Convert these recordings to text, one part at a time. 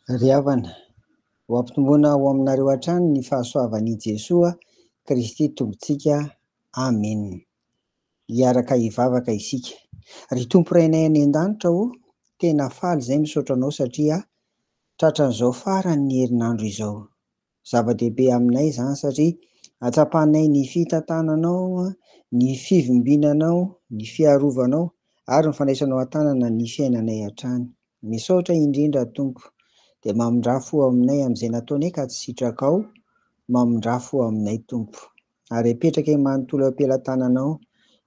Ry havana, ho ampitomboina ao aminareo hatrany ny fahasoavan' i Jesoa Kristy Tompontsika. Amena. Hiaraka hivavaka isika. Ry Tompo Rainay any An-danitra o, tena faly izay misaotra Anao satria tratran'izao farany ny herinandro izao. Zava-dehibe aminay izany satria atsapanay ny fitantananao, ny fivimbinanao, ny fiarovanao ary ny fandraisanao an-tanana ny fiainanay hatrany. Misaotra indrindra Tompo. Dia mamindrà fo aminay amin'izay nataonay ka tsy sitrakao, mamindrà fo aminay Tompo. Ary apetrakay manontolo eo am-pelatananao,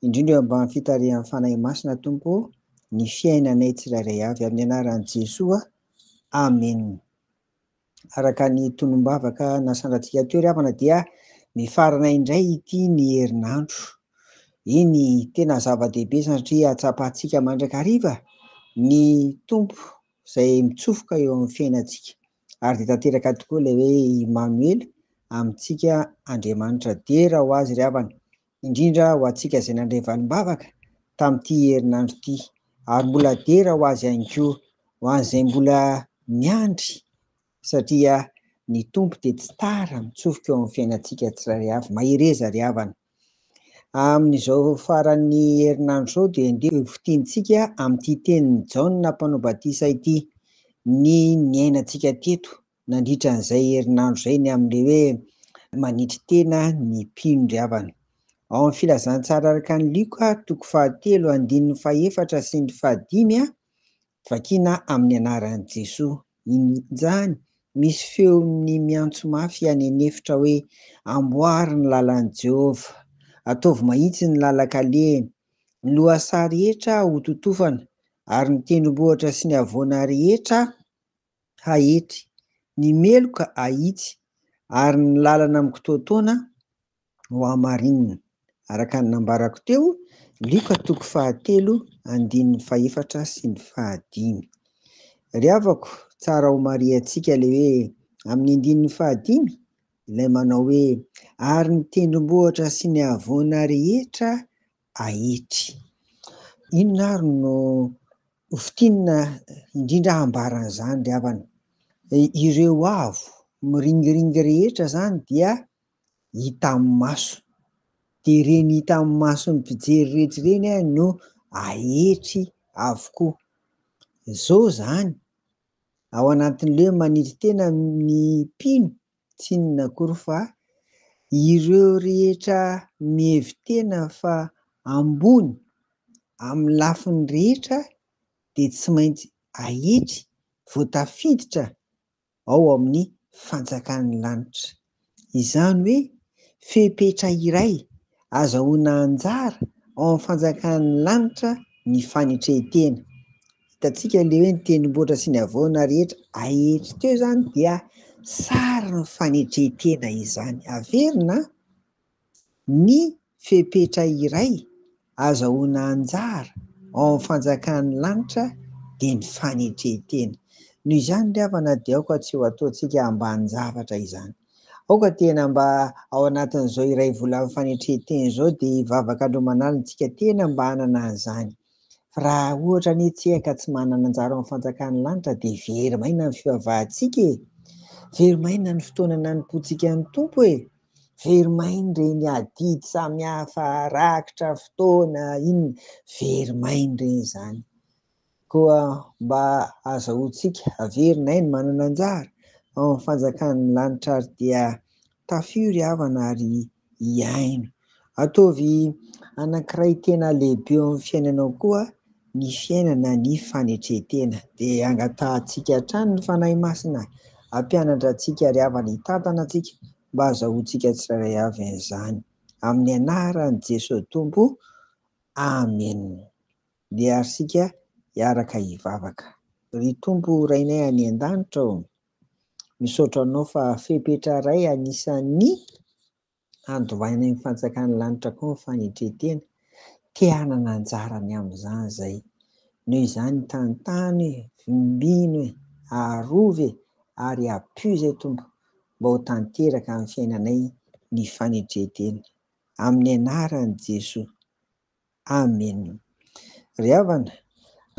indrindra eo ambany fitarihan'ny Fanahy Masina Tompo ô, ny fiainanay tsirairay avy. Amin'ny anaran'i Jesoa, Amena. Araka ny tonom-bavaka nasandratsika teo ry havana dia mifarana indray ity ny herinandro. Eny, tena zava-dehibe satria hatsapantsika mandrakariva ny Tompo izay mitsofoka eo amin'ny fiainantsika. Ary dia tanteraka tokoa ilay hoe Imanoela, amintsika Andriamanitra. Dera ho azy ry havana, indrindra ho antsika izay nandray valimbavaka tamin'ity herinandro ity, ary mbola dera ho azy ihany koa, ho an'izay mbola miandry, satria ny Tompo dia tsy tara mitsofoka eo amin'ny fiainantsika tsirairay avy. Mahereza ry havana. Amin'izao faran'ny herinandro izao dia andeha ho fintintsika amin'ity tenin'i Jaona mpanao batisa ity ny niainantsika teto nandritra an'izay herinandro izay ny amin'ilay hoe manetry tena ny mpino ry havana. Ao amin'ny Filazantsara araka an'i Lioka, toko fahatelo, andininy fahefatra sy ny fahadimy, vakina amin'ny anaran'i Jesoa. Injany, misy feon'ny miantso mafy any an'efitra hoe, Amboary ny lalan'i Jehovah, ataovy mahitsy ny lalan-kalehiny. Ny lohasaha rehetra hototofana, ary ny tendrombohitra sy ny havoana rehetra haetry, ny meloka ahitsy, ary ny lalana mikitoatoana hohamarinina, araka ny nambarako teo, Lioka toko fahatelo andininy fahefatra sy ny fahadimy. Ry havako, tsara homarihantsika ilay hoe amin'ny andininy fahadimy, ilay manao hoe, Ary ny tendrombohitra sy ny havoana rehetra Haiti. Inona ary no ho fintinina indrindra hambara an'izany ry havana? Ireo avo miringiringy rehetra izany dia hitan'ny maso, dia ireny hitan'ny mason'ny mpijery rehetra ireny no haetry avokoa. Izao izany, ao anatin'ilay hoe manetry tena ny mpino Tsy inona akory fa ireo rehetra mihevi-tena fa ambony amin'ny lafiny rehetra dia tsy maintsy ahetry vao tafiditra ao amin'ny fanjakan'ny lanitra. Izany hoe fepetra iray azahoana anjara ao amin'ny fanjakan'ny lanitra ny fanetrentena. Hitantsika ilay hoe ny tendrombohitra sy ny havoana rehetra aery teo izany dia sarin'ny fanetren-tena izany. Averina ny fepetra iray azahoana anjara ao amin'ny fanjakan'ny lanitra dia ny fanetren-tena. Noho izany ry havana dia aoka tsy ho ataontsika ambanin-javatra izany. Aoka tena mba ao anatin'izao iray volan'ny fanetren-tena izao dia hivavaka androman'alina isika tena mba hanana an'izany. Raha ohatra anie tsika ka tsy manana anjara ao amin'ny fanjakan'ny lanitra dia very maina ny fivavahantsika e! Very maina ny fotoana nanompoantsika amin'ny Tompo e! Very maina ireny adidy samihafa rakitra fotoana inona, very maina ireny izany. Koa mba azahoantsika averina aina manana anjara ao amin'ny fanjakan'ny lanitra ary dia Tafio ry havana ary hiaino. Ataovy anankiray tena lehibe eo amin'ny fiainanao koa ny fiainana ny fanetren-tena. Dia angatahantsika hatrany ny Fanahy Masina hampianatra antsika ry havana hitantana antsika mba hazahoantsika tsirairay avy an'izany. Amin'ny anaran'i Jesoa Tompo, Amen. Dia ary isika hiaraka hivavaka. Ry Tompo Rainay any an-danitra ô! Misaotra anao fa fepetra ray anisan'ny handovaina ny fanjakan'ny lanitra koa ny fanetretena. Te hanana anjara ny amin'izany izay. Noho izany tantano e, vimbino e, arovy e ary apio izay Tompo mba ho tanteraka amin'ny fiainanay ny fanetretena. Amin'ny anaran'i Jesoa. Amen. Ry havana,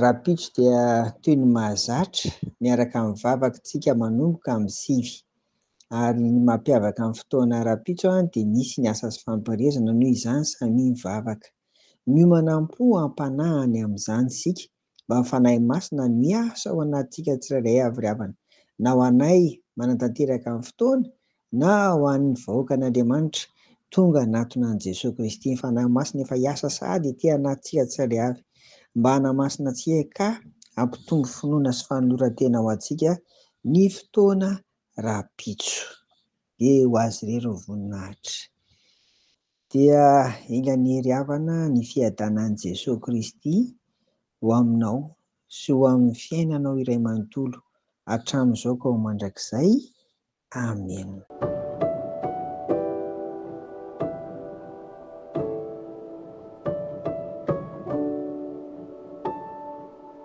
rahampitso dia toy ny mahazatra miaraka amin'ny vavaka tsika manomboka amin'ny sivy. Ary ny mampiavaka ny fotoana rahampitso an dia misy ny asa sy fampirirezana noho izany samia mivavaka. Miomana am-po am-panahy any amin'izany isika mba ny Fanahy Masina miasa ao anatintsika tsirairay avy ry havana, na ho anay manatanteraka ny fotoana na ho an'ny vahoakan'Andriamanitra tonga hanatona an'i Jesoa Kristy. Ny Fanahy Masina efa hiasa sady ety anatintsika tsirairay avy mba hanamasina antsika ka hampitombo finoana sy fanoloran-tena ho antsika ny fotoana rahampitso. Dia ho azy irery ny voninahitra. Dia ilaniry havana ny fiadanan'i Jesoa Kristy ho aminao sy ho amin'ny fiainanao iray manontolo, hatramin'izao ka ho mandrakizay. Amena.